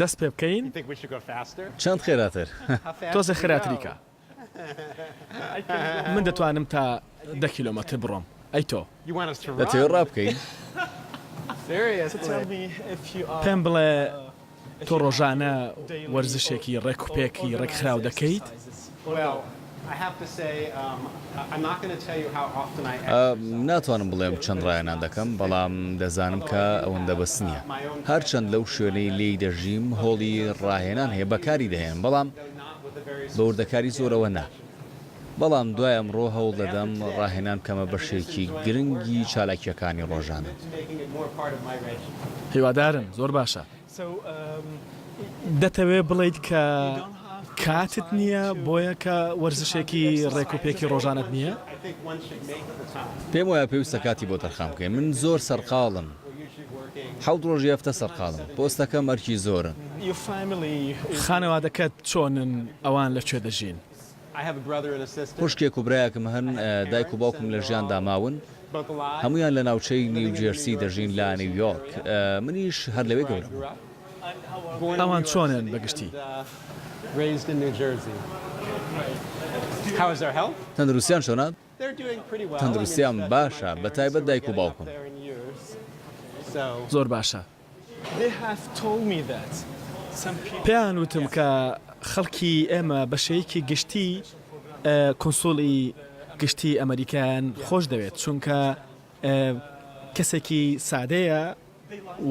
دەست پێ بکەین؟ چەند خێراتر؟ تۆزێ خراتریکە. من دەتوانم تا دە کیلۆمەتر بڕۆم. ئەی تۆ؟ دەتەوێت ڕا بکەین؟ پێم بڵێ تۆ ڕۆژانە وەرزشێکی ڕێکوپێکی ڕێکخراو دەکەیت؟ ناتوانم بڵێم چەند ڕایەنان دەکەم، بەڵام دەزانم کە ئەوەندە بەس نییە. هەرچەند لەو شوێنەی لێی دەژیم هۆڵی ڕاهێنان هەیە بەکاری دەهێنم، بەڵام بە وردەکاری زۆرەوە نا. بەڵام دوای ئەمڕۆ هەوڵ دەدەم ڕاهێنان بکەمە بەشێکی گرنگی چالاکییەکانی ڕۆژانەم. هیوادارم، زۆر باشە. دەتەوێت بڵێیت کە کاتت نییە بۆیە کە وەرزشێکی ڕێکوپێکی ڕۆژانەت نییە؟ پێم وایە پێویستە کاتی بۆ تەرخان بکەین، من زۆر سەرقاڵم، حەوت ڕۆژی هەفتە سەرقاڵم، پۆستەکەم ئەرکی زۆرە. خانەوادەکەت چۆنن، ئەوان لە کوێ دەژین؟ خوشکێک و برایەکم هەن، دایک و باوکم لە ژیاندا ماون، هەموویان لە ناوچەی نیو جێرسی دەژین لە نیویۆرک، منیش هەر لەوێ گەورە بووم. ئەوان چۆنن بە گشتی؟ تەندروستیان چۆنە؟ تەندروستیان باشە، بە تایبەت دایک و باوکم. زۆر باشە، پێیان وتم کە خەڵکی ئێمە بە شێیکی گشتی کونسوڵی گشتی ئەمەریکایان خۆش دەوێت چونکە کەسێکی سادەیە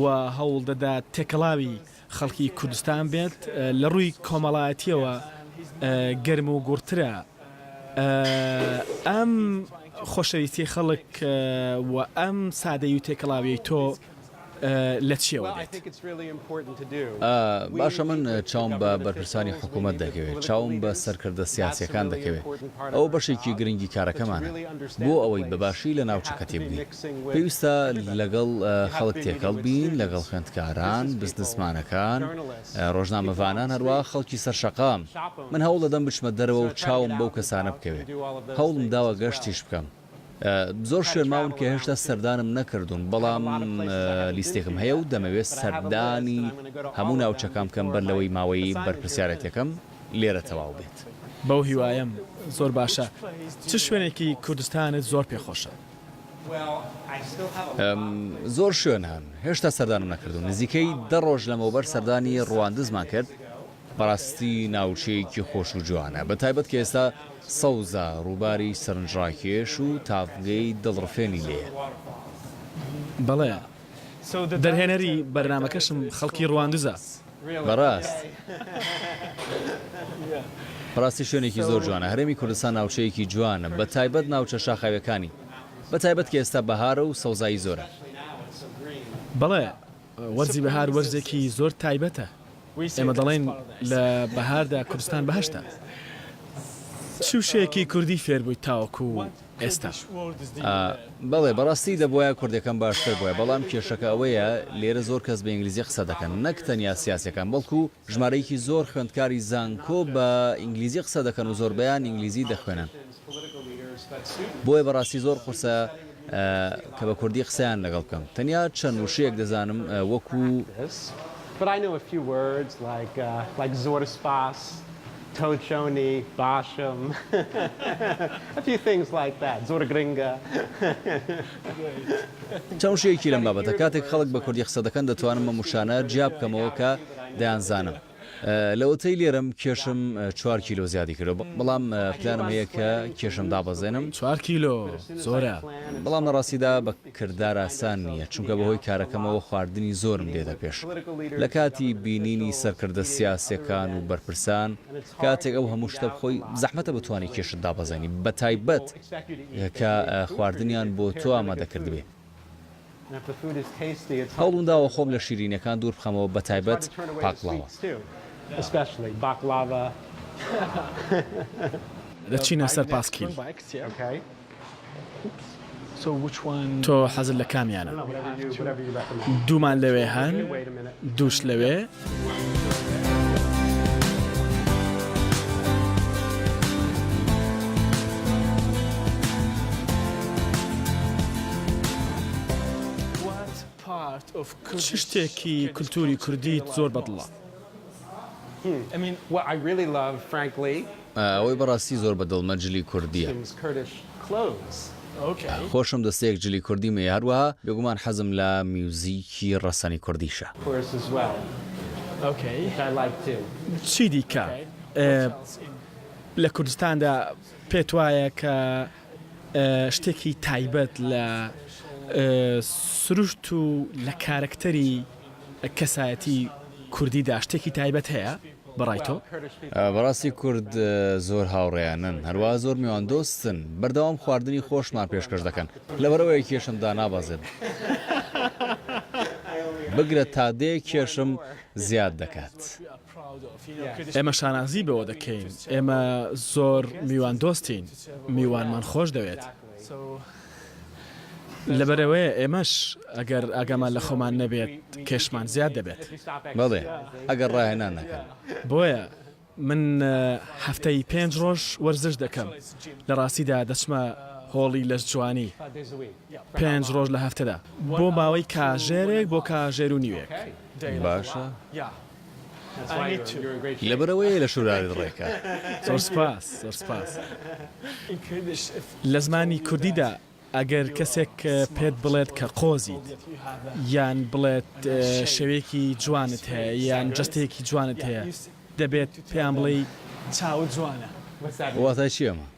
و هەوڵ دەدات تێکەڵاوی خەڵکی کوردستان بێت، لە ڕووی کۆمەڵایەتییەوە گەرم و گوڕترە. ئەم خۆشەویستیی خەڵک و ئەم سادەیی و تێکەڵاوییەی تۆ، لە چیەوە دێت؟ باشە من چاوم بە بەرپرسانی حکوومەت دەکەوێت، چاوم بە سەرکردە سیاسیەکان دەکەوێت، ئەوە بەشێکی گرنگی کارەکەمانە، بۆ ئەوەی بە باشی لە ناوچەکە تێبگەین، پێویستە لەگەڵ خەڵک تێکەڵ بین، لەگەڵ خوێندکاران، بزنسمانەکان، ڕۆژنامەڤانان، هەروەها خەڵکی سەر شەقام، من هەوڵ دەدەم بچمە دەرەوە و چاوم بەو کەسانە بکەوێت، هەوڵم داوە گەشتیش بکەم. زۆر شوێن ماون کە هێشتا سەردانم نەکردوون، بەڵام لیستێکم هەیە و دەمەوێت سەردانی هەموو ناوچەکان بکەم بەر لەوەی ماوەی بەرپرسیارێتیەکەم لێرە تەواو بێت. بەو هیوایەم. زۆر باشە. چ شوێنێکی کوردستانت زۆر پێ خۆشە؟ زۆر شوێن هەن هێشتا سەردانم نەکردوون، نزیکەی دە ڕۆژ لەمەوبەر سەردانی ڕواندزمان کرد، بەڕاستی ناوچەیەکی خۆش و جوانە بە تایبەت کە ئێستا سەوزە، ڕووباری سەرنجڕاکێش و تاڤگەی دڵڕفێنی لێیە. بەڵێ دەرهێنەری بەرنامەکەشم خەڵکی ڕواندزە. بەڕاست بەڕاستی شوێنێکی زۆر جوانە هەرێمی کوردستان ناوچەیەکی جوانە بە تایبەت ناوچە شاخاویەکانی بە تایبەت کە ئێستا بەهارە و سەوزایی زۆرە. بەڵێ وەرزی بەهار وەرزێکی زۆر تایبەتە، ئێمە دەڵێین لە بەهاردا کوردستان بەهەشتە. چ وشەیەکی کوردی فێربوویت تاوەکو ئێستا؟ بەڵێ، بەڕاستی دەبوایە کوردیەکەم باشتر بوایە، بەڵام کێشەکە ئەوەیە لێرە زۆر کەس بە ئینگلیزی قسە دەکەن، نەک تەنیا سیاسیەکان بەڵکو ژمارەیەکی زۆر خوێندکاری زانکۆ بە ئینگلیزی قسە دەکەن و زۆربەیان ئینگلیزی دەخوێنن. بۆیە بەڕاستی زۆر قورسە کە بە کوردی قسەیان لەگەڵ بکەم. تەنیا چەند وشەیەک دەزانم وەکو. But I know a few words like like زۆر سپاس، تۆ چۆنی، باشم، a few things like that زۆر گرنگە. چەند وشەیەکی لەم بابەتە. کاتێک خەڵک بە کوردی قسە دەکەن دەتوانم ئەم وشانە جیا بکەمەوە کە. دەیانزانم لەوەتەی لێرەم کێشم چوار کیلۆ زیادی کردووە، بەڵام پلانم هەیە کە کێشم دابەزێنم. چوار کیلۆ زۆرە. بەڵام لە ڕاستیدا بە کردار ئاسان نییە، چونکە بەهۆی کارەکەمەوە خواردنی زۆرم دێتە پێش. لە کاتی بینینی سەرکردە سیاسییەکان و بەرپرسان، کاتێک ئەو هەموو شتە بخۆی، زەحمەتە بتوانی کێشت دابەزێنی، بەتایبەت کە خواردنیان بۆ تۆ ئامادە کردبێ. هەوڵمداوە خۆم لە شیرینیەکان دوور بخەمەوە بە تایبەت باقڵاوە. دەچینە سەر پاسکیل. تۆ حەزت لە کامیانە؟ دوومان لەوێ هەن دووش لەوێ. چ شتێکی کلتوری کوردیت زۆر بەدڵە؟ ئەوەی بەڕاستی زۆر بە دڵمە جلی کوردیە. خۆشم دەستەیەک جلی کوردیم هەیە هەروەها بێگومان حەزم لە میوزیکی ڕەسەنی کوردیشە. چی دیکە لە کوردستاندا پێت وایە کە شتێکی تایبەت لە سروشت و لە کارەکتەری کەسایەتی کوردیدا شتێکی تایبەت هەیە؟ بەڕای تۆ؟ بەڕاستی کورد زۆر هاوڕێیانەن هەروا زۆر میوان دۆستن بەردەوام خواردنی خۆشمان پێشکەش دەکەن لەبەرئەوەی کێشم دانابەزێت بگرە تا دێ کێشم زیاد دەکات. ئێمە شانازی بەوە دەکەین ئێمە زۆر میوان دۆستین میوانمان خۆش دەوێت. لەبەرئەوەیە ئێمەش ئەگەر ئاگامان لە خۆمان نەبێت کێشمان زیاد دەبێت. بەڵێ ئەگەر ڕاهێنان نەکەن. بۆیە من هەفتەی پێنج ڕۆژ وەرزش دەکەم، لە ڕاستیدا دەچمە هۆڵی لەشجوانی پێنج ڕۆژ لە هەفتەدا بۆ ماوەی کاژێرێک بۆ کاژێر و نیوێک. باشە. لەبەرئەوەیە لە شوراوێت ڕێکە. زۆر سوپاس زۆر سوپاس. لە زمانی کوردیدا ئەگەر کەسێک پێت بڵێت کە قۆزیت یان بڵێت شەوێکی جوانت هەیە یان جەستەیەکی جوانت هەیە دەبێت پێیان بڵێی چاوت جوانە. واتای چیە ئەمە؟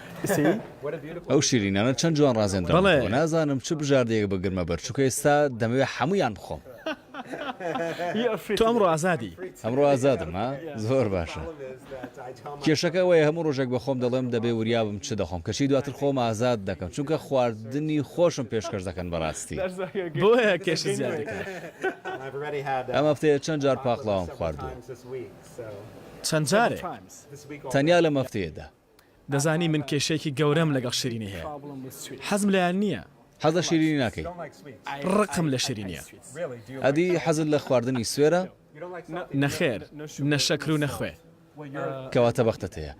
ئەو شیرینانە چەند جوان ڕازێندراونەتەوە نازانم چ بژاردەیەک بگرمە بەر چونکە ئێستا دەمەوێت هەموویان بخۆم. تۆ ئەمڕۆ ئازادی. ئەمڕۆ ئازادم ها؟ زۆر باشە. کێشەکە ئەوەیە هەموو ڕۆژێک بە خۆم دەڵێم دەبێ وریا بم چ دەخۆم کەچی دواتر خۆم ئازاد دەکەم چونکە خواردنی خۆشم پێشکەش دەکەن بەڕاستی. بۆیە کێشت زیاد دەکات. ئەم هەفتەیە چەند جار پاقلاوەم خواردووە؟ چەند جارێک؟ تەنیا لەم هەفتەیەدا. دەزانی من کێشەیەکی گەورەم لەگەڵ شیرینی هەیە حەزم لێیان نییە. حەز لە شیرینی ناکەی؟ ڕقم لە شیرینییە. ئەدی حەزت لە خواردنی سوێرە؟ نەخێر، نە شەکر و نە خوێ. کەواتە بەختت هەیە.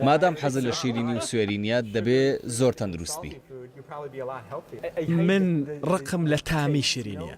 مادام حەزت لە شیرینی و سوێری نییە، دەبێ زۆر تەندروست بی. من ڕقم لە تامی شیرینییە.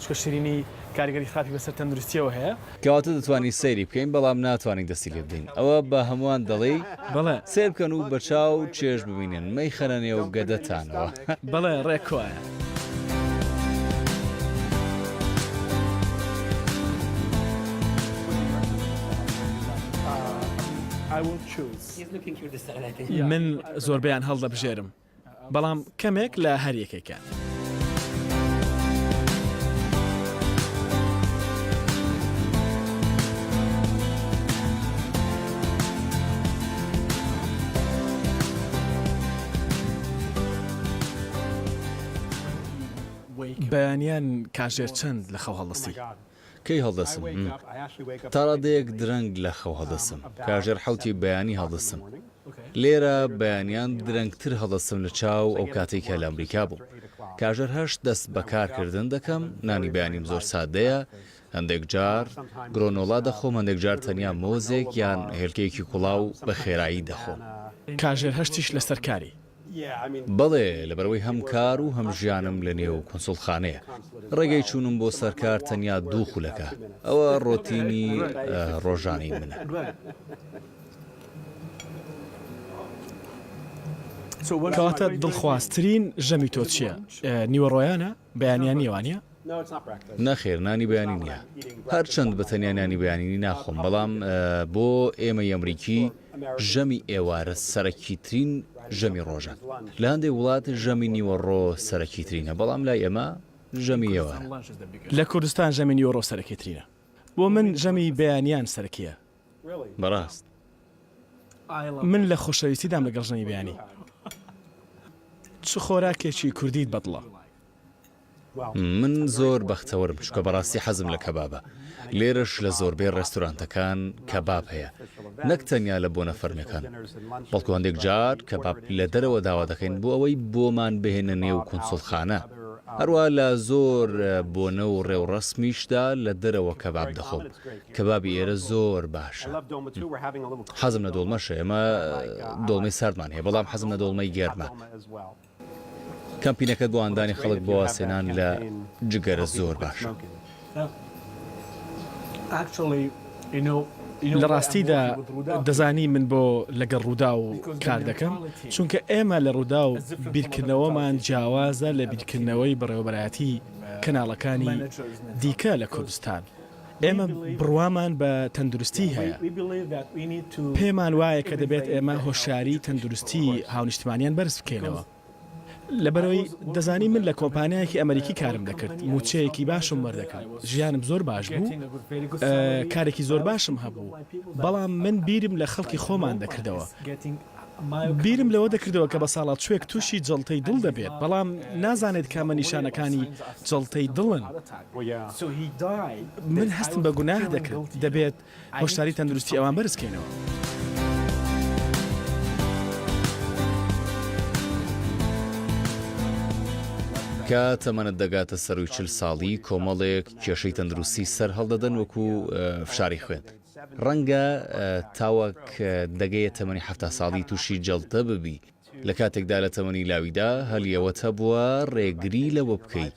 چونکە شیرینی کاریگەری خراپی بەسەر تەندروستیەوە هەیە. کەواتە دەتوانین سەیری بکەین بەڵام ناتوانین دەستی لێ بدەین ئەوە بە هەمووان دەڵێی؟ بەڵێ. سەیر بکەن و بە چاو چێژ ببینن مەیخەنە نێو گەدەتانەوە. بەڵێ ڕێک کوایە. من زۆربەیان هەڵدەبژێرم. بەڵام کەمێک لە هەر یەکێکیان. بەیانیان کاژێر چەند لە خەو هەڵدەستی. کەی هەڵدەستم؟ م، تاڕادەیەک درەنگ لە خەو هەڵدەستم، کاژێر حەوتی بەیانی هەڵدەستم. لێرە بەیانیان درەنگتر هەڵدەستم لە چاو ئەو کاتەی کە لە ئەمریکا بووم. کاژێر هەشت دەست بە کار کردن دەکەم، نانی بەیانیم زۆر سادەیە، هەندێک جار گرۆنۆلا دەخۆم، هەندێک جار تەنیا مۆزێک یان هێلکەیەکی کوڵاو بە خێرایی دەخۆم. کاژێر هەشتیش لەسەر کاری؟ بەڵێ، لەبەرئەوەی هەم کار و هەم ژیانم لە نێو کونسوڵخانەیە. ڕێگەی چوونم بۆ سەر کار تەنیا دوو خولەکە. ئەوە ڕۆتینی ڕۆژانەی منە. کەواتە دڵخوازترین ژەمی تۆ چییە؟ نیوەڕۆیانە؟ بەیانیان نیە وانیە؟ نەخێر نانی بەیانی نیە هەرچەند بە تەنیا نانی بەیانینی ناخۆم بەڵام بۆ ئێمەی ئەمریکی ژەمی ئێوارە سەرەکی ترین ژەمی ڕۆژە لە هەندێک وڵات ژەمی نیوەڕۆ سەرەکی ترینە بەڵام لای ئێمە ژەمی ئێوارە لە کوردستان ژەمی نیوەڕۆ سەرەکی ترینە بۆ من ژەمی بەیانیان سەرەکیە بەڕاست من لە خۆشەویستیدام لەگەڵ ژەمی بەیانی چ خۆراکێکی کوردیت بەدڵە؟ من زۆر بەختەوەرم چونکە بەڕاستی حەزم لە کەبابە لێرەش لە زۆربەی ڕێستورانتەکان کەباب هەیە نەک تەنیا لە بۆنە فەرمیەکان بەڵکو هەندێک جار کەباب لە دەرەوە داوا دەکەین بۆ ئەوەی بۆمان بهێنە نێو کونسوڵخانە هەروە لە زۆر بۆنە و ڕێوڕەسمیشدا لە دەرەوە کەباب دەخۆم کەبابی ئێرە زۆر باشە. حەزم لە دۆڵمەشە ئێمە دۆڵمەی ساردمان هەیە بەڵام حەزم لە دۆڵمەی گەرمە. کەمپینەکە بۆ هاندانی خەڵک بۆ وازهێنان لە جگەرە زۆر باشە. لە ڕاستیدا دەزانی من بۆ لەگەڵ ڕووداو کار دەکەم؟ چونکە ئێمە لە ڕووداو بیرکردنەوەمان جیاوازە لە بیرکردنەوەی بەڕێوەبەرایەتی کەناڵەکانی دیکە لە کوردستان. ئێمە بڕوامان بە تەندروستی هەیە. پێمان وایە کە دەبێت ئێمە هۆشیاریی تەندروستیی هاونیشتمانییان بەرز بکەینەوە. لەبەرئەوەی دەزانین من لە کۆمپانیایەکی ئەمەریکی کارم دەکرد، مووچەیەکی باشم وەردەگرت، ژیانم زۆر باش بوو، کارێکی زۆر باشم هەبوو، بەڵام من بیرم لە خەڵکی خۆمان دەکردەوە. بیرم لەوە دەکردەوە کە بەساڵاچوێک تووشی جەڵتەی دڵ دەبێت، بەڵام نازانێت کامە نیشانەکانی جەڵتەی دڵن. من هەستم بە گوناه دەکرد، دەبێت هۆشداری تەندروستی ئەوان بەرز بکەینەوە. کە تەمەنت دەگاتە سەرووی چل ساڵی، کۆمەڵێک کێشەی تەندروستی سەرهەڵدەدەن وەکوو فشاری خوێن. ڕەنگە تاوەک دەگەیە تەمەنی حەفتا ساڵی تووشی جەڵتە ببی، لە کاتێکدا لە تەمەنی لاویدا هەلی ئەوەت هەبووە ڕێگری لەوە بکەی.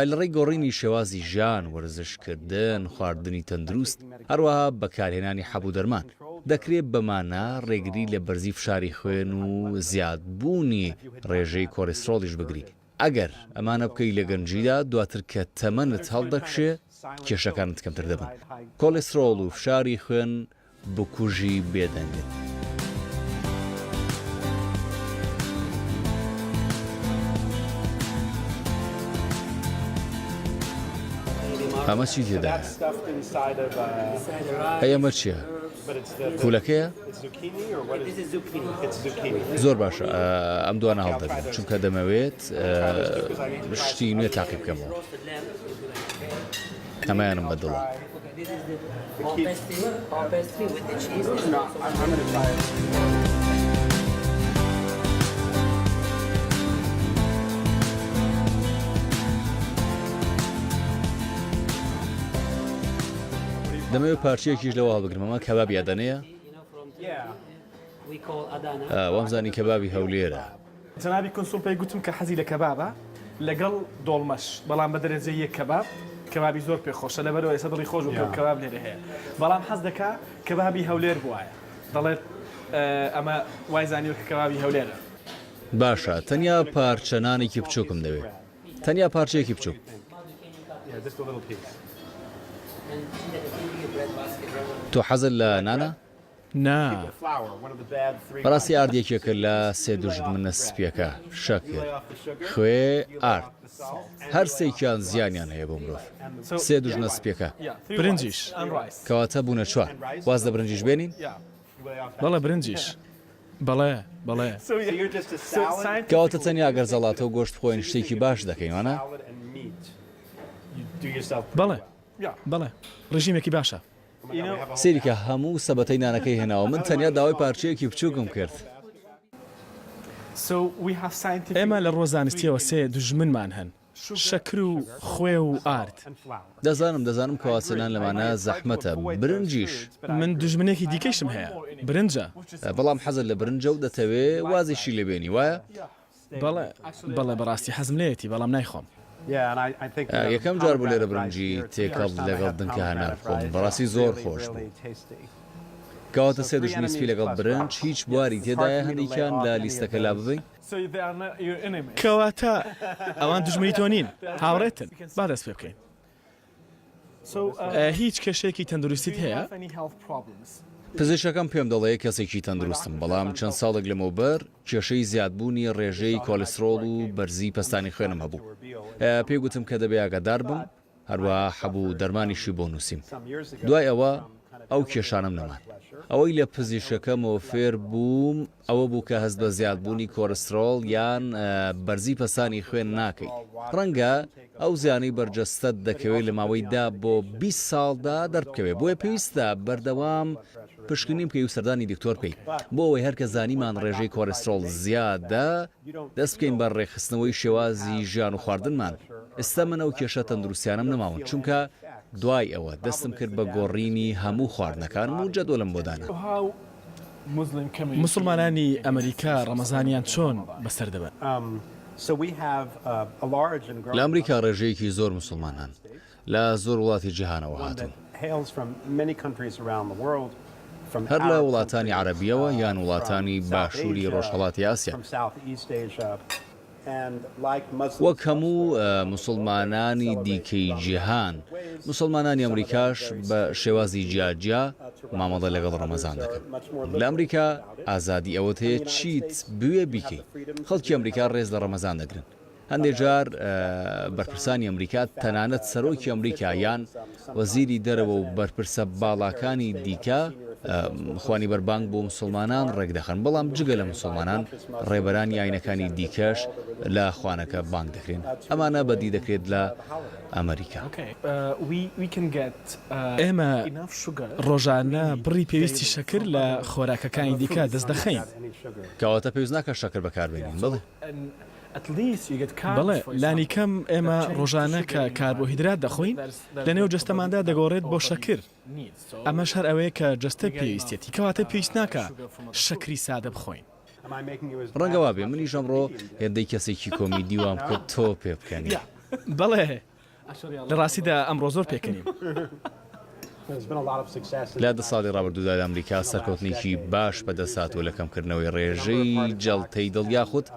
لە ڕێی گۆڕینی شێوازی ژیان، وەرزشکردن، خواردنی تەندروست، هەروەها بەکارهێنانی حەب و دەرمان، دەکرێت بەمانە ڕێگری لە بەرزی فشاری خوێن و زیادبوونی ڕێژەی کۆڵیسترۆڵیش بگریت. ئەگەر ئەمانە بکەی لە گەنجیدا، دواتر کە تەمەنت هەڵدەکشێ کێشەکانت کەمتر دەبن. کۆلیسترۆڵ و فشاری خوێن بکوژی بێدەنگن. ئەمە چی تێدایە؟ ئەی ئەمە چیە؟ کولەکەیە زۆر باشە ئەم دوانە هەڵدەگرن چونکە دەمەوێت شتی نوێ تاقی بکەمەوە ئەمایانم بەدڵە. دەمەوێت پارچەیەکیش لەوە هەڵبگرم ئەمە کەبابی ئەدەنەیە وامزانی کەبابی هەولێرە جەنابی کونسوڵ پێی گوتم کە حەزی لە کەبابە لەگەڵ دۆڵمەش بەڵام بە دەرەجەی یەک کەباب کەبابی زۆر پێ خۆشە لەبەرەوە ئێستا دڵی خۆش بوو کە کەباب لێرە هەیە بەڵام حەز دەکا کەبابی هەولێر بوایە دەڵێت ئەمە وای زانیوە کە کەبابی هەولێرە باشە تەنیا پارچە نانێکی بچووکم دەوێت تەنیا پارچەیەکی بچووک. تۆ حەزت لە نانە؟ نا. بەڕاستی ئارد یەکێکە لە سێ دوژمنە سپییەکە، شەکر، خوێ، ئارد. هەر سێکیان زیانیان هەیە بۆ مرۆڤ. سێ دوژنە سپییەکە. برنجیش. کەواتە بوونە چوار. واز لە برنجیش بێنین؟ بەڵێ برنجیش بەڵێ بەڵێ. کەواتە تەنیا گەر زەڵاتە و گۆشت بخۆین شتێکی باش دەکەین وانە؟ بەڵێ بەڵێ ڕژیمێکی باشە. سەیریکە هەموو سەبەتەی نانەکەی هێناوە من تەنیا داوای پارچەیەکی بچوکم کرد. ئێمە لە ڕووە زانستیەوە سێ دوژمنمان هەن. شەکر و خوێ و ئارد. دەزانم دەزانم کەواتە نان لەمانە زەحمەتە. برنجیش. من دوژمنێکی دیکەیشم هەیە. برنجە. بەڵام حەزت لە برنجە و دەتەوێ وازیشی لێ بێنی وایە؟ بەڵێ بەڵێ بەڕاستی حەزم لێیەتی بەڵام نایخۆم. یەکەم جار بوو لێرە برنجی تێکەڵ لەگەڵ دنکە هەنار بخۆم بەڕاستی زۆر خۆش بوو. کەواتە سێ دوژمنی سپی لەگەڵ برنج هیچ بواری تێدایە هەندێکیان لە لیستەکە لاببەین؟ کەواتە ئەوان دوژمنی تۆ نین، هاوڕێتن، با دەست پێ بکەین. هیچ کێشەیەکی تەندروستیت هەیە؟ پزیشکەکەم پێم دەڵێ کەسێکی تەندروستم، بەڵام چەند ساڵێک لەمەوبەر کێشەی زیادبوونی ڕێژەی کۆلیسترۆڵ و بەرزی پەستانی خوێنم هەبوو. پێی گوتم کە دەبێ ئاگادار بم، هەروەها حەبوو دەرمانیشی بۆ نووسیم. دوای ئەوە ئەو کێشانەم نەمان. ئەوەی لە پزیشکەکەمەوە فێر بووم ئەوە بوو کە هەست بە زیادبوونی کۆرسترۆڵ یان بەرزی پەستانی خوێن ناکەی. ڕەنگە ئەو زیانەی بەر جەستەت دەکەوێت لە ماوەی دە بۆ بیست ساڵدا دەربکەوێت، بۆیە پێویستە بەردەوام پشکنین بکەی و سەردانی دکتۆر بکەی. بۆ ئەوەی هەر کە زانیمان ڕێژەی کۆرسترۆڵ زیادە، دەست بکەین بە ڕێکخستنەوەی شێوازی ژیان و خواردنمان، ئێستا من ئەو کێشە تەندروستیانەم نەماون چونکە دوای ئەوە دەستم کرد بە گۆڕینی هەموو خواردنەکانم و جەدۆلم بۆ دانا. موسڵمانانی ئەمریکا ڕەمەزانیان چۆن بەسەر دەبەن؟ لە ئەمریکا ڕێژەیەکی زۆر موسڵمان هەن، لە زۆر وڵاتی جیهانەوە هاتوون. هەر لە وڵاتانی عەرەبییەوە یان وڵاتانی باشووری ڕۆژهەڵاتی ئاسیا. وەک هەموو موسڵمانانی دیکەی جیهان، موسڵمانانی ئەمریکاش بە شێوازی جیاجیا مامەڵە لەگەڵ ڕەمەزان دەکەن. لە ئەمریکا ئازادی ئەوەت هەیە چیت بوێ بیکەی. خەڵکی ئەمریکا ڕێز لە ڕەمەزان دەگرن. هەندێک جار بەرپرسانی ئەمریکا، تەنانەت سەرۆکی ئەمریکا یان وەزیری دەرەوە و بەرپرسە باڵاکانی دیکە خوانی بەربانگ بۆ مسوڵمانان ڕێکدەخەن، بەڵام جگە لە مسوڵمانان ڕێبەرانی ئاینەکانی دیکەش لە خوانەکە بانگ دەکرێن. ئەمانە بەدی دەکرێت لە ئەمریکا. ئێمە ڕۆژانە بڕی پێویستی شەکر لە خۆراکەکانی دیکە دەستدەخەین. کەواتە پێویست ناکات شەکر بەکاربێنین. بەڵێ. بەڵێ، لانیکەم ئێمە ڕۆژانە کە کاربۆهیدرات دەخۆین، لەنێو جەستەماندا دەگۆڕێت بۆ شەکر، ئەمەش هەر ئەوەیە کە جەستە پێویستیەتی، کەواتە پێویست ناکا شەکری سادە بخۆین. ڕەنگە وابێ منیش ئەمڕۆ هێندەی کەسێکی کۆمیدی وام کرد تۆ پێبکەنی. بەڵێ، لە ڕاستیدا ئەمڕۆ زۆر پێکەنیم. لە دە ساڵی ڕابردوودا لە ئەمریکا سەرکەوتنێکی باش بەدەستهاتووە لە کەمکردنەوەی ڕێژەی جەڵتەی دڵ یاخود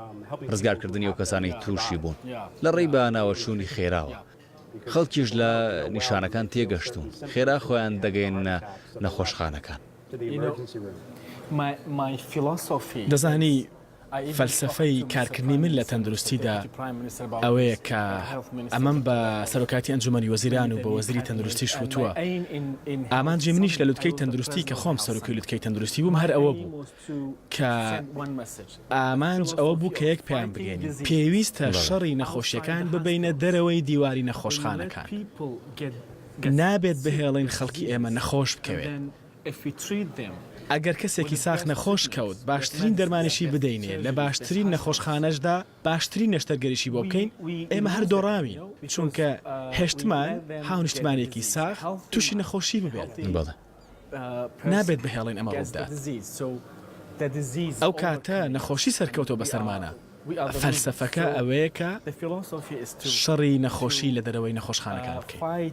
ڕزگارکردنی ئەو کەسانەی تووشی بوون لە ڕێی بەناوەچوونی خێراوە. خەڵکیش لە نیشانەکان تێگەشتوون، خێرا خۆیان دەگەیەننە نەخۆشخانەکان. دەزانی فەلسەفەی کارکردنی من لە تەندروستیدا ئەوەیە کە ئەمەم بە سەرۆکاتی ئەنجومەنی وەزیران و بە وەزیری تەندروستیش وتووە ئامانجی منیش لە لوتکەی تەندروستی کە خۆم سەرۆکی لوتکەی تەندروستی بووم هەر ئەوە بوو کە ئامانج ئەوە بوو کە یەک پێیان بگەین پێویستە شەڕی نەخۆشیەکان ببینە دەرەوەی دیواری نەخۆشخانەکان نابێت بهێڵین خەڵکی ئێمە نەخۆش بکەوێت. ئەگەر کەسێکی ساخ نەخۆش کەوت باشترین دەرمانیشی بدەینێ لە باشترین نەخۆشخانەشدا باشترین نەشتەرگەریشی بۆ بکەین ئێمە هەر دۆڕاوین چونکە هێشتمان هاونیشتمانیەکی ساخ توشی نەخۆشی ببێت نابێت بهێڵین ئەمە ڕووبدات ئەو کاتە نەخۆشی سەرکەوتوە بەسەرمانا فەلسەفەکە ئەوەیە کە شەڕی نەخۆشی لە دەرەوەی نەخۆشخانەکان بکەین.